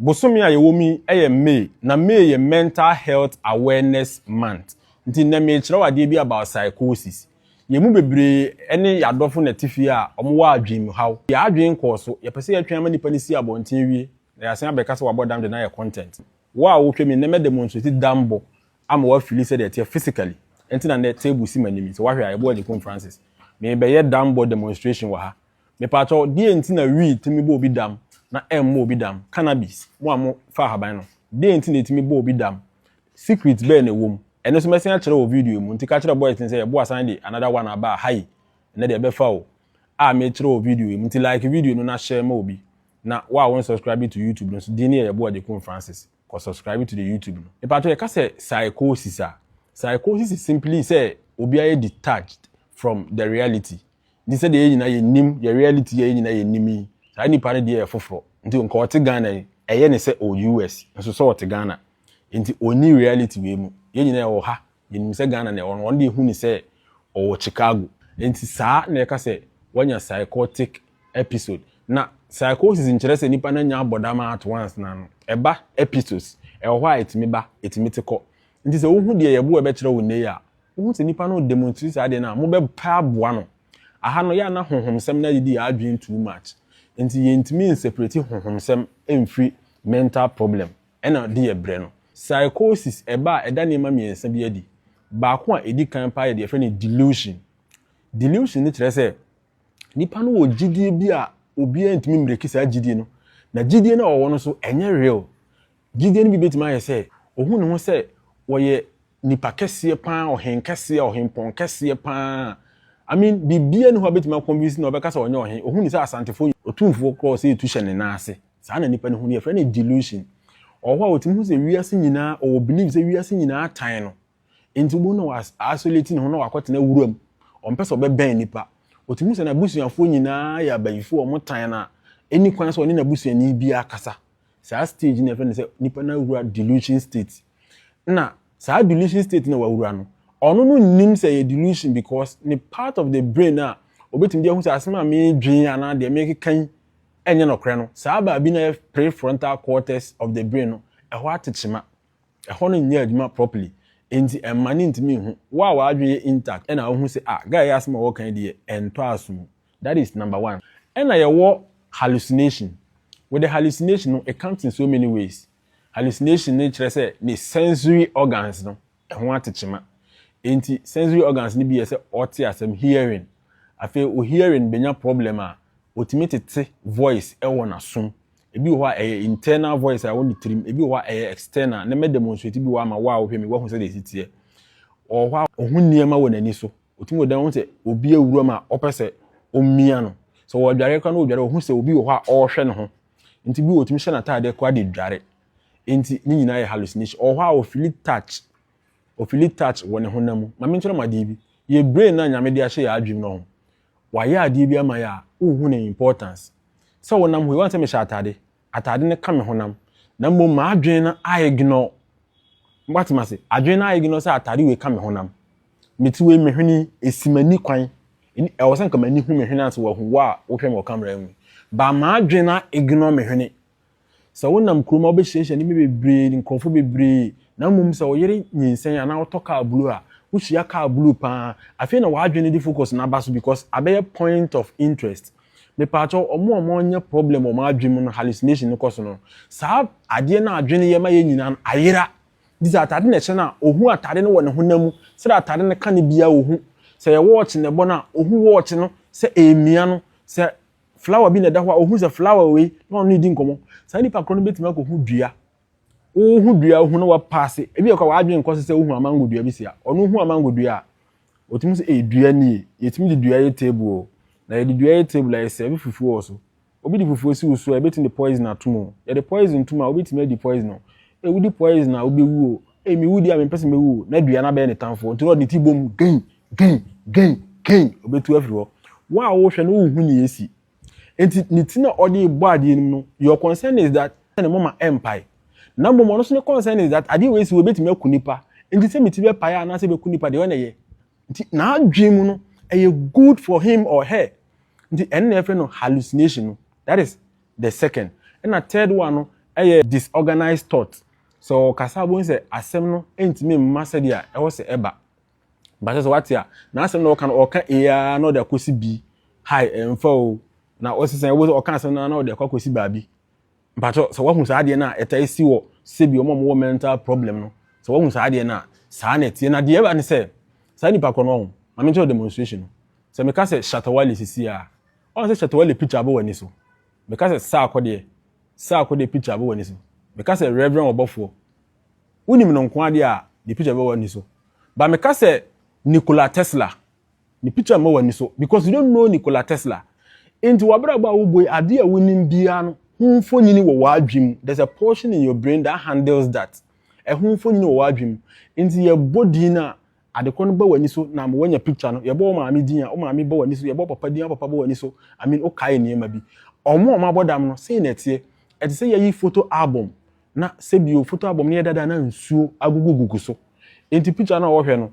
bosome a yɛwɔ mu yi yɛ May, na May yɛ Mental Health Awareness Month, nti nnɛ merekyerɛw adeɛ bi about psychosis. Yɛn mu bebree ne yɛn adɔfo na ɛte fie a wɔwɔ adwenmuhaw. Yɛn adwene nkɔɔ so. Yɛpɛ sɛ yɛtwɛn ama nnipa no si abɔnten wie na yɛasan abɛka sɛ wɔabɔ dam de no ayɛ content. Wo a woretwa mi nnɛ, mɛdemonstrate dambɔ ama woafili sɛdeɛ ɛteɛ physically. Ɛnti na nnɛ table si m'anim yi. Sɛ woahwɛ a, ɛboɔ Agye Poom Francis. Merebɛyɛ dambɔ demonstration wɔ ha. Mepaakyɛw, deɛn nti na weed tumi bɔ obi dam na ɛmmɔ obi dam? Cannabis, mo a mo fa ahaban no, deɛn nti na ɛtumi bɔ obi dam? Secret bɛɛ na ɛwɔ mu? Ɛno nso mɛsen akyerɛ wɔ video yi mu, nti ka kyerɛ boys no sɛ yɛboa asan de another one aba a, ha yi, ɛnɛ deɛ ɛbɛfa o, a mekyerɛ wɔ video yi mu, nti like video no na share ma obi, na wo a wo nsubscribe to YouTube no nso, din no yɛ yɛboa Jekum Francis. Kɔ subscribe to the YouTube no. Mepakyɛw yɛka sɛ psychosis a, psychosis is simply sɛ obi ayɛ detached from the reality. Nti sɛdeɛ yɛn nyinaa yɛnim yɛ reality yi a yɛn nyinaa yɛnim yi, saa nipa no deɛ yɛ foforɔ. Nti nka ɔte Ghana yi, ɛyɛ ne sɛ ɔwɔ US, nso sɛ ɔte Ghana. Nti ɔnni reality wei mu. Yɛn nyinaa yɛwɔ ha, Yɛnim sɛ Ghana na ɛwɔ no, wɔn deɛ hu no sɛ ɔwɔ Chicago. Enti saa na yɛka sɛ wanya psychotic episode. Na psychosis nkyerɛ sɛ nipa no anya abɔdamma at once na no. Ɛba episodes. Ɛwɔ hɔ a ɛtumi ba, ɛtumi te kɔ. Enti sɛ wohu deɛ yɛboɔ ɛbɛkyerɛ wo nnɛ yi a, wohu sɛ nipa no redemonstrate saa adeɛ no a, mobɛpɛ aboa no. Aha no, yɛ a na honhomsɛm no adidi yɛn adwene too much. Enti yɛntumi nseparati honhomsɛm mfiri mental problem. Ɛna ɔde yɛ brɛ no. Psychosis, ɛba a, ɛda nneɛma mmiɛnsa bi adi. Baako a ɛdi kan paa yɛ deɛ yɛfrɛ no delusion. Delusion no kyerɛ sɛ, nipa no wɔ gyidie bi a obiara ntumi mmereki saa gyidie no, na gyidie no a ɔwɔ no nso, ɛnyɛ real. Gyidie no bi bɛtumi ayɛ sɛ, ɔhu ne ho sɛ ɔyɛ nipa kɛseɛ paa, ɔhen kɛseɛ, ɔhempɔn kɛseɛ paa. I mean, biribiara nni hɔ a bɛtumi a convince no a ɔbɛka sɛ ɔnyɛ ɔhen. Ɔhu ne sɛ Asantefoɔ yɛ otumfoɔ koraa a ɔsɛ yɛtu hyɛ ne nan ase. saa na nipa no hu no yɛfrɛ no delusion ɔwɔ hɔ a ɔtumi hu sɛ wiase nyinaa ɔwɔ believe sɛ wiase nyinaa tan no nti wobɛhu na isolate ne ho na wakɔtena wuram ɔmpɛ sɛ ɔbɛbɛn nipa ɔtumi hu sɛ n'abusuafoɔ nyinaa yɛ abayifoɔ ɔmo tan no a ɛni kwan sɛ ɔne n'abusuani bi akasa saa stage no yɛfrɛ no sɛ nipa no awura delusion state na saa delusion state na wawura no ɔno no nim sɛ yɛ delusion because ne part of the brain a obetumi de ahu sɛ asɛm a meedwen anaa deɛ meekeka yi ɛnyɛ nɔkorɛ no saa baabi na yɛ prefrontal cortex of the brain no ɛhɔ atekyema ɛhɔ no nyɛ adwuma properly nti ɛmma ne ntumi nhu wo a w'adwen yɛ intact ɛna wohu sɛ ah guy yɛ asɛm a wɔka yi deɛ ɛntɔ aso mu that is number one ɛna yɛwɔ hallucination with the hallucination no it comes in so many ways Hallucination no kyerɛ sɛ ne sensory organs no ho ate kyema. Enti sensory organs no bi yɛ sɛ ɔte asɛm, hearing. Afei wo hearing bɛnya problem a, ɔtumi tete voice wɔ n'asom. Ebi wɔ hɔ a ɛyɛ internal voice a ɛwɔ ne tirim, ebi wɔ hɔ a ɛyɛ external. Nnɛ mɛ demonstrate bi wɔ ama wo a wohwɛ me woahu sɛdeɛ ɛsi teɛ. Ɔwɔ hɔ a ɔhu nneɛma wɔ n'ani so. Ɔtumi wɔ dan ɔhu sɛ obi awuram a ɔpɛ sɛ ɔmia no. Sɛ ɔredware koraa na ɔredware a ɔhu sɛ obi wɔ hɔ a ɔrehwɛ ne ho. Nti bi wɔ otumi hyɛ n'ataadeɛ koraa de dware. Nti ne nyinaa yɛ hallucination. Ɔwɔ hɔ a ofili touch. Ofili touch wɔ ne honam mu. Mame nkyerɛ mo adeɛ bi. Yɛ brain no a Nyame de ahyɛ yɛ adwem no ho. Wayɛ adeɛ bi ama yɛ a, wonhu ne importance. Sɛ wonam hɔ yi, woahu sɛ mehyɛ ataade? Ataade no ka me honam. Na mmom m'adwene no a ignore. Moate mase? Adwene no a ignore sɛ ataade wei ka me honam. Me ti wei me hwene yi ɛsi m'ani kwan ɛni ɛwɔ sɛ nka m'ani hu me hwene ansa wahu wo a wohwɛ me wɔ camera mu but m'adwene a ignore me hwene sɛ wonam kurom a wobɛhyiahyia nneɛma bebree nkurɔfoɔ bebree na mmom sɛ wo yere nyinsɛn anaa wotɔ car blue a wohyia car blue paa afei na w'adwene no de focus no aba so because abɛyɛ point of interest mepaakyɛw ɔmo a ɔmo anya problem wɔ ɔmo adwene mu no hallucination no kɔ so no saa adeɛ no a adwene yɛ ma yɛn nyinaa no ayera. Gye sɛ atade na ɛhyɛ no a, ohu atade no wɔ ne honam mu sɛdeɛ atade no ka no biara a ɔhu. Sɛ ɛyɛ wɔɔkye na ɛbɔ no a, ɔhu wɔɔkye no sɛ ɛremia no. Sɛ flower bi na ɛda hɔ a, ɔhu sɛ flower wei na ɔne no redi nkɔmmɔ. Saa nipa korɔ no bɛtumi akɔhu dua. Wohu dua wohu na wapaase. Ebi yɛ kɔ a w'adwene nkɔ so sɛ wohu amango dua bi si a, ɔno hu amango dua a, ɔtumi sɛ ee dua nie, yɛtumi de dua yɛ table o, na yɛde dua yɛ table a yɛsɛɛve fufuo wɔ so. Obi de fufuo si wo so a, yɛbɛtumi de poison atom o, yɛde poison tom a, wobɛtumi adi poison o. Ee, wodi poison a, wobɛwu o. Ee, mewu deɛ a, mempɛ sɛ mɛwu o. Na dua no abɛyɛ ne tamfoɔ, nti na ɔde ne ti bom gei, gei, gei, gei, ɔbɛtu afiri hɔ. Wo a wohwɛ no, wonhu nea ɛresi. Enti ne ti na ɔde rebɔ adeɛ no mu no, your concern is that ne moma ɛmpae. Na mmom ɔno nso ne concern is that adeɛ wei si hɔ, ɛbɛtumi aku nipa. Enti sɛ me ti bɛpae anaasɛ ɛbɛku nipa, deɛ ɔyɛ na ɛyɛ. nti n'adwene mu no ɛyɛ good for him or her nti ɛno na yɛfrɛ no hallucination no that is the second ɛna third one no ɛyɛ disorganized thought sɛ ɔkasa abom sɛ asɛm no ntumi mma sɛdeɛ ɛwɔ sɛ ɛba basɛ sɛ wate a na asɛm na ɔka no ɔka eaa na ɔde akɔsi bi hai ɛmfa o na ɔsesɛn ɛwɔ sɛ ɔka asɛm no na ɔde akɔ akɔsi baabi Mpakyɛw sɛ woahu saa adeɛ no a ɛtaa si wɔ sɛbi wɔn a wɔwɔ mental problem no sɛ woahu saa adeɛ no a saa na ɛteɛ na deɛ ɛba ne sɛ saa nipa korɔ no ɔho ma menkyerɛ demonstration no sɛ meka sɛ Shatta Wale sisi a ɔn sɛ Shatta Wale picture abɔ w'ani so meka sɛ Saako deɛ Saako deɛ picture abɔ w'ani so meka sɛ Reverend Ɔbɔfoɔ wonim no nkoa deɛ a ne picture bɛbɔ w'ani so ba meka sɛ Nikola Tesla Ne picture mma w'ani so because you don't know Nikola Tesla. Enti w'abrabɔ a wobɔ yi, adeɛ a wonim biara no ho mfonini wɔ w'adwene mu. There's a portion in your brain that handles that. Ɛho mfonini wɔ w'adwene mu. Enti yɛbɔ din no a, ade korɔ no ba w'ani so na ama woanya picture no. Yɛbɔ wo maame din a, wo maame ba w'ani so. Yɛbɔ wo papa din a, wo papa ba w'ani so. I mean, wokae nneɛma bi. Wɔn a wɔabɔ dam no, sei na ɛteɛ. Ɛte sɛ yɛayi photo album na sɛbio photo album no yɛ dada na nsuo agugugugu so. Enti picture no a wɔhwɛ no,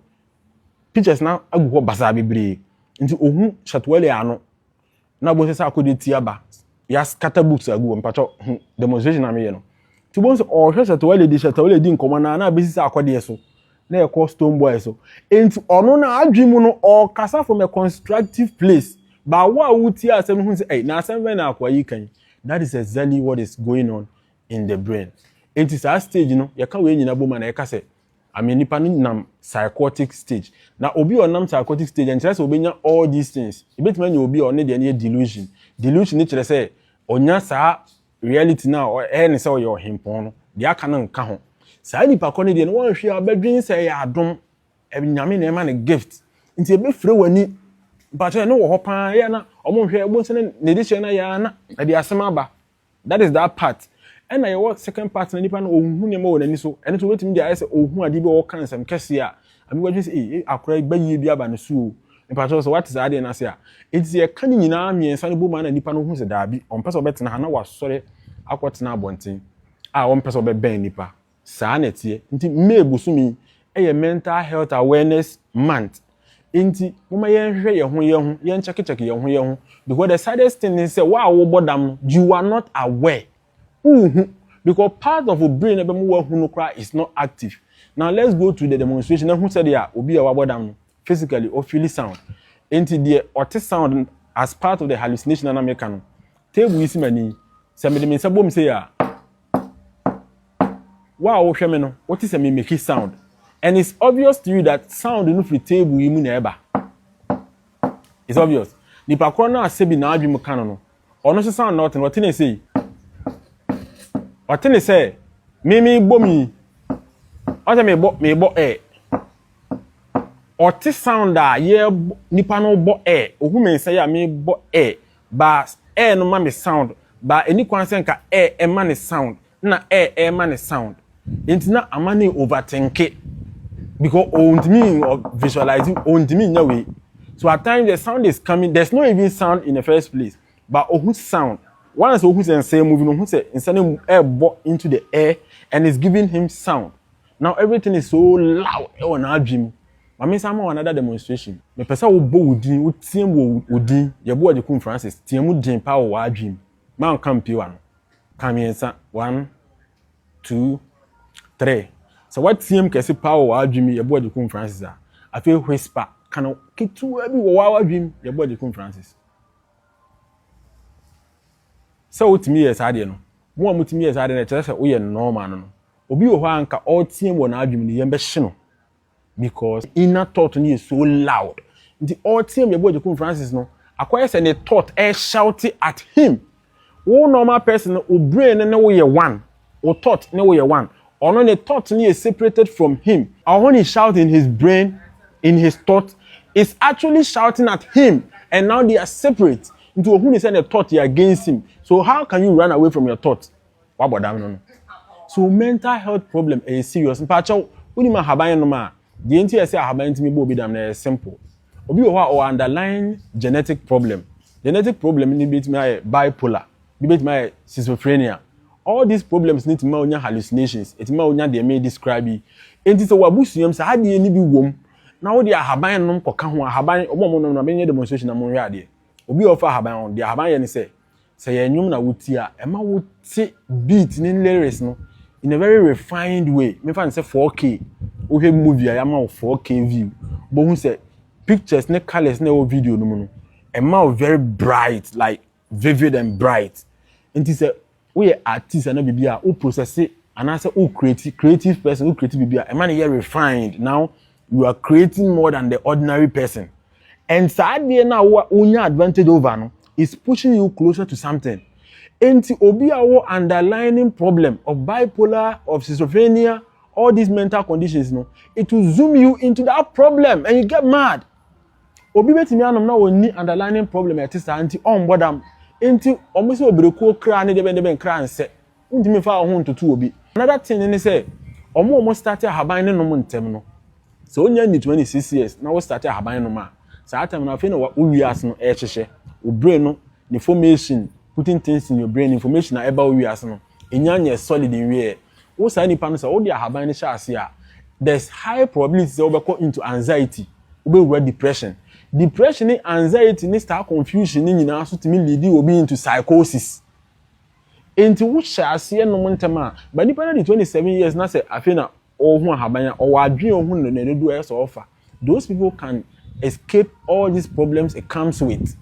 pictures na agu hɔ basaa bebree nti ohu Shatuelle ano na obu sɛ sɛ akɔde ti aba yɛaskata books agu hɔ mpakyɛ hu demonstration na meyɛ no nti obu sɛ ɔhwɛ Shatuelle de Shatuelle di nkɔmmɔ na na abɛsi sɛ akɔdeɛ so na ɛkɔ Stone Boy so nti ɔno na adwene mu no ɔkasa from a constructive place but wo a wotie asɛm no hu sɛ ɛy na asɛm bɛn na akoa yi ka yi that is exactly what is going on in the brain nti saa stage no yɛka wei nyina bom a na yɛka sɛ I mean nipa no nam psychotic stage na obi a ɔnam psychotic stage ɛnkyerɛ sɛ ɔbɛnya all these things. Ɛbɛtumi anya obi a ɔne deɛ no yɛ delusion. Delusion no kyerɛ sɛ ɔnya saa reality no a ɛyɛ ne sɛ ɔyɛ ɔhempɔn no, deɛ aka no nka ho. Saa nipa kɔ no deɛ no wanhwɛ a ɔbɛdwene sɛ ɛyɛ adom, Nyame na ɛma no gift. Nti ɛbɛfire w'ani. Mpakyɛw ɛno wɔ hɔ paa, ɛyɛ a na wɔnhwɛ, wobɛhu sɛ na ne dehyɛ no ayɛ ara na ɛde asɛm aba. That is that part. Ɛna yɛwɔ second part na nipa no ɔnhu nneɛma wɔ n'ani so. Ɛno nso wobɛtumi de ayɛ sɛ ɔhu adeɛ bi a ɔka nsɛm kɛseɛ a abi wadwene sɛ ei akora yi bayie bi aba ne so o. Mpakyɛw sɛ wate saa adeɛ no ase a. Enti sɛ yɛka ne nyinaa mmiɛnsa no bom a na nipa no hu sɛ daabi ɔmpɛ sɛ ɔbɛtena ha na wasɔre akɔtena abɔnten a ɔmpɛ sɛ ɔbɛbɛn nipa. Saa na ɛteɛ. Nti May bosome yi yɛ mental health awareness month. Nti momma yɛnhwehwɛ yɛn ho yɛn ho, yɛn check check yɛn ho yɛn ho because the saddest thing ne sɛ wo a wobɔ dam no you are not aware. Wonhu because part of wo brain a ɛbɛma woahu no koraa is not active. Now let's go to the demonstration na hu sɛdeɛ a obi a wabɔ dam no physically ɔfeeli sound. Nti deɛ ɔte sound as part of the hallucination a na meka no, table yi si m'ani yi, sɛ mede me nsa bom sei a, Wo a wohwɛ me no, wote sɛ me make sound. And it's obvious to you that sound no firi table yi mu na ɛba. It's obvious. Nipa korɔ no a sɛbi n'adwe mu ka no no, ɔno nso sound na ɔte no, ɔte ne sei. Ɔte ne sɛ, me me bɔ mi. Ɔte me bɔ, me bɔ ɛ. Ɔte sound a yɛ nipa no bɔ ɛ. Ohu me nsa yi a me bɔ ɛ. baa ɛɛ no ma me sound baa ɛni kwan sɛ nka ɛɛ ɛma ne sound na ɛɛ ɛɛma ne sound nti na amane over tenke because ontumi visualize ontumi nya wei so at times the sound is coming there's no even sound in the first place but ohu sound once ohu sɛ nsa moving ohu sɛ nsa no ɛɛbɔ into the air and it's giving him sound. Now everything is so loud ɛwɔ n'adwene mu. Ma mensan ma wo another demonstration. Mepɛ sɛ wobɔ wo din, woteam wɔ wo din, Yeboah Nyekum Francis, team mu den paa wɔ w'adwene mu. Mma nka mpue w'ano. Ka mmiɛnsa, one, two, three. Sɛ woateam kɛse paa wɔ w'adwene mu, Yeboah Nyekum Francis a, afei whisper, ka no ketewaa bi wɔ w'adwene mu, Yeboah Nyekum Francis. Sɛ wotumi yɛɛ saa adeɛ no, mo a motumi yɛɛ saa adeɛ no, ɛkyerɛ sɛ woyɛ nnɔɔ maa no no. Obi wɔ hɔ a anka ɔreteam wɔ n'adwene mu no, yɛn bɛhye no because inner thought no yɛ so loud. Nti ɔreteam yɛn Boagyekun Francis no, akɔyɛ sɛ ne thought ɛreshoute at him. Wo normal person no, wo brain no ne wo yɛ one. Wo thought ne wo yɛ one. Ɔno ne thought no yɛ separated from him. Ɔho ne shout in his brain, in his thought is actually shouting at him and now they are separate. Nti ɔhu ne sɛ ne thought yɛ against him. So how can you run away from your thought? Wabɔ dam no no. So mental health problem ɛyɛ serious. Mpakyɛw, wonim ahaban ɛnom a? Deɛ nti ɛsɛ ahaban ntumi bɔ obi dam no ɛyɛ simple. Obi wɔ hɔ a ɔwɔ underlying genetic problem. Genetic problem no bɛtumi ayɛ bipolar. Ebi betumi ayɛ schizophrenia. All these problems no tumi ma wonya hallucinations, ɛtumi ma wonya deɛ me describe yi. Enti sɛ w'abusua mu saa adeɛ no bi wom na wode ahaban nom kɔka ho a, ahaban, wɔn a wɔnom no, menyɛ demonstration na monhwɛ adeɛ. Obi a ɔfa ahaban ho, deɛ ahaban yɛ ne sɛ, sɛ ɛyɛ nnwom na wotie a, ɛma wote beat ne lyrics no in a very refined way. Memfa no sɛ 4K, wohwɛ movie a yɛama wo 4K view, wobɛhu sɛ pictures ne colours na ɛwɔ video no mu no, ɛma wo very bright, like vivid and bright nti sɛ woyɛ artist anaa biribi a wo process anaasɛ wo create creative person wo create biribi a ɛma no yɛ refined now you are creating more than the ordinary person and saa adeɛ no a wonya advantage over no is pushing you closer to something nti obi a wɔ underlining problem of bipolar of schizophrenia all these mental conditions no it will zoom you into that problem and you get mad. obi betumi anom na wɔnni underlining problem a ɛte saa nti ɔmbɔ dam nti wɔn sɛ obirekuo kra ne dɛbɛn dɛbɛn kra nsɛ wontumi nfa wɔn ho ntoto obi another thing ne sɛ wɔn a wɔn start ahaban ne nom ntɛm no sɛ wonya ni twenty six years na wo start ahaban nom a saa time no afei na wowie ase no ɛrehyehyɛ wo brain no ne formation putting things in your brain information a ɛba wowie ase no Enya nyɛ solid nwiɛ. Wo saa nipa no sɛ wode ahaban no hyɛ ase a, there's high probability sɛ wobɛkɔ into anxiety, wobɛwura depression. Depression ne anxiety ne staa confusion no nyinaa nso tumi leadi obi into psychosis. Enti wohyɛ aseɛ nom ntɛm a, ba nipa no adi 27 years na sɛ afei na ɔrehu ahaban a, ɔwɔ adwene a ɔhu no na dodoɔ ayɛ sɛ ɔrefa. Those people can escape all these problems it comes with.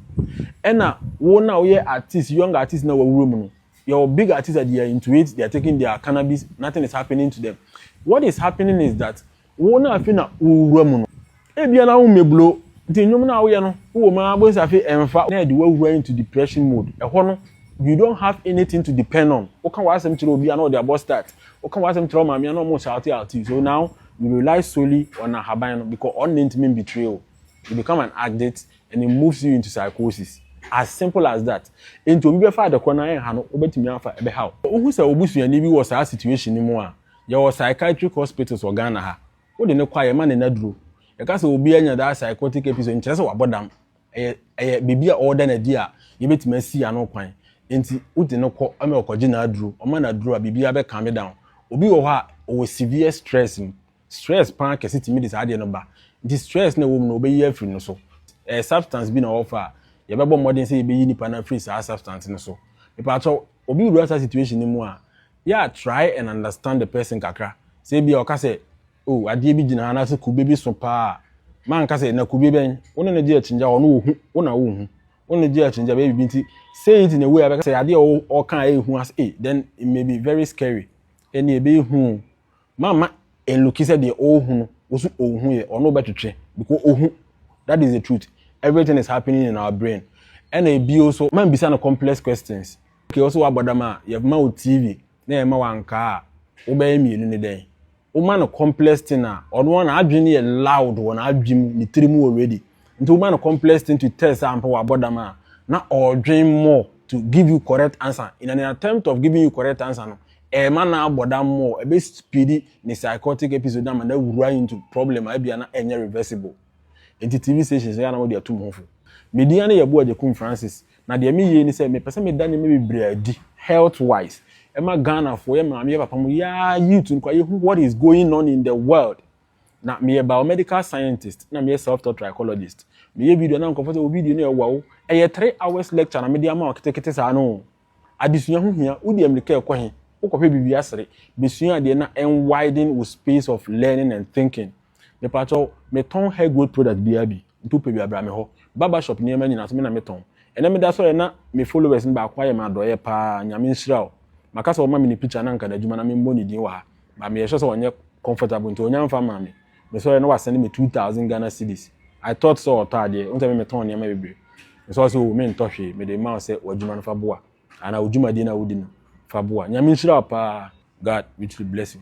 Ɛna wo no a woyɛ artist, young artist no a wawura mu no, Yɛwɔ big artists a they are into it, they are taking their cannabis, nothing is happening to them. What is happening is that wo no afei na wowura mu no. Ebia na wommeblo, nti nnwom no a woyɛ no wowɔ mu ara bohu sɛ afei ɛmfa na ɛde wo awura into depression mode. Ɛhɔ no you don't have anything to depend on. Woka w'asɛm kyerɛ obi a na ɔde abɔ start, woka w'asɛm kyerɛ wo maame a na ɔmo shout out you. So now you rely solely on ahaban no because ɔno na entumi mbetray wo. You become an addict, And it moves you into psychosis. As simple as that. Enti obi bɛfa ade korɔ na ɛnha no, wobɛtumi afa ɛbɛha wo. Wohu sɛ wo busuani bi wɔ saa situation no mu a, yɛwɔ psychiatric hospitals wɔ Ghana ha. Wode no kɔ a, yɛma no nnaduro. Yɛka sɛ obi anya that psychotic episode, nkyerɛ sɛ wabɔ dam. Ɛyɛ, ɛyɛ biribi a ɔreda no adi a yɛbɛtumi asi ano kwan. Enti wode no kɔ ma ɔkɔgye n'aduro. Ɔma no aduro a, biribiara bɛ calm down. Obi wɔ hɔ a, ɔwɔ severe stress mu. Stress paa kɛse tumi de saa adeɛ no ba. Nti stress no a ɛwɔ mu no wɔbɛyi afiri no so. Ɛyɛ substance bi na wɔfa a, yɛbɛbɔ mmɔden sɛ yɛbɛyi nipa no afiri saa substance no so. Mepaakyɛw, obi wura saa situation no mu a, yɛ a try and understand the person kakra. Sɛ ebia ɔka sɛ, oh, adeɛ bi gyina ha anaasɛ kube bi so paa a, ma nka sɛ, na kube bɛn? Wo ne no gye akyinnye a, ɔno ɔhu, wo na wonhu. Wo ne no gye akyinnye a, bɛyɛ biribi nti, say it in a way a ɛbɛka sɛ adeɛ a ɔka a ɛyɛ hu ase, eh, then it may be very scary, ɛnneɛ ɛbɛyɛ hu o. mamma ɛluki sɛ deɛ ɔrehu no wo so ɔnhu yɛ ɔno wobɛtwetwe because ɔhu that is the truth everything is happening in our brain ɛna ebio so mambisa no complex questions okay wo so woabɔ dam a yɛma wo tv na yɛma wo ankaa a wobɛyɛ mmienu ne dɛn woma no complex thing a ɔno na adwene yɛ loud wɔ n'adwene mu ne tiri mu already nti woma no complex thing to test a mpo wabɔ dam a na ɔredwen more to give you correct answer in an attempt of giving you correct answer no ɛma na abɔ dam more ɛbɛ speed ne psychotic episode ama na awura into problem a ebia na ɛnyɛ reversible nti tv stations yɛ na wɔde atum ho fo medin ano yɛ boa gyekum francis na deɛ meyie ne sɛ mepɛ sɛ meda nneɛma bebree adi health wise ɛma ghana fo yɛ maame yɛ papa mo yɛ youth nkwa yɛ who what is going on in the world Na meyɛ biomedical scientist na meyɛ self taught trichologist meyɛ video na nkɔfo sɛ wo video no yɛ wow ɛyɛ three hours lecture na mede ama wo ketekete saa no adesua ho hia wodi amirika ɛkɔ he wokɔhwɛ biribi asere besua adeɛ na ɛn widen wo space of learning and thinking mepatɔ metɔn hair growth product biara bi Nti wopɛ bi a bra me hɔ. Barber shop nneɛma nyinaa so me na metɔn. Ɛnɛ meda asɔre a na me followers no baako ayɛ me adɔeɛ paa Nyame nhyira wo. Maka sɛ ɔma me ne picture a na nka n'adwuma na memmɔ ne din wɔ ha but meyɛ sure sɛ ɔnyɛ comfortable nti ɔnnya mfa mmaa me. Mesɔre a na wasɛne me 2000 Ghana cedis. I thought sɛ ɔtɔ adeɛ. Wohu sɛ me metɔn nneɛma bebree. Mesɔre sɛ oo mentɔ hwee mede rema wo sɛ w'adwuma no fa boa anaa wo dwumadie no a wodi no fa boa. Nyame nhyira wo paa. God richly bless you.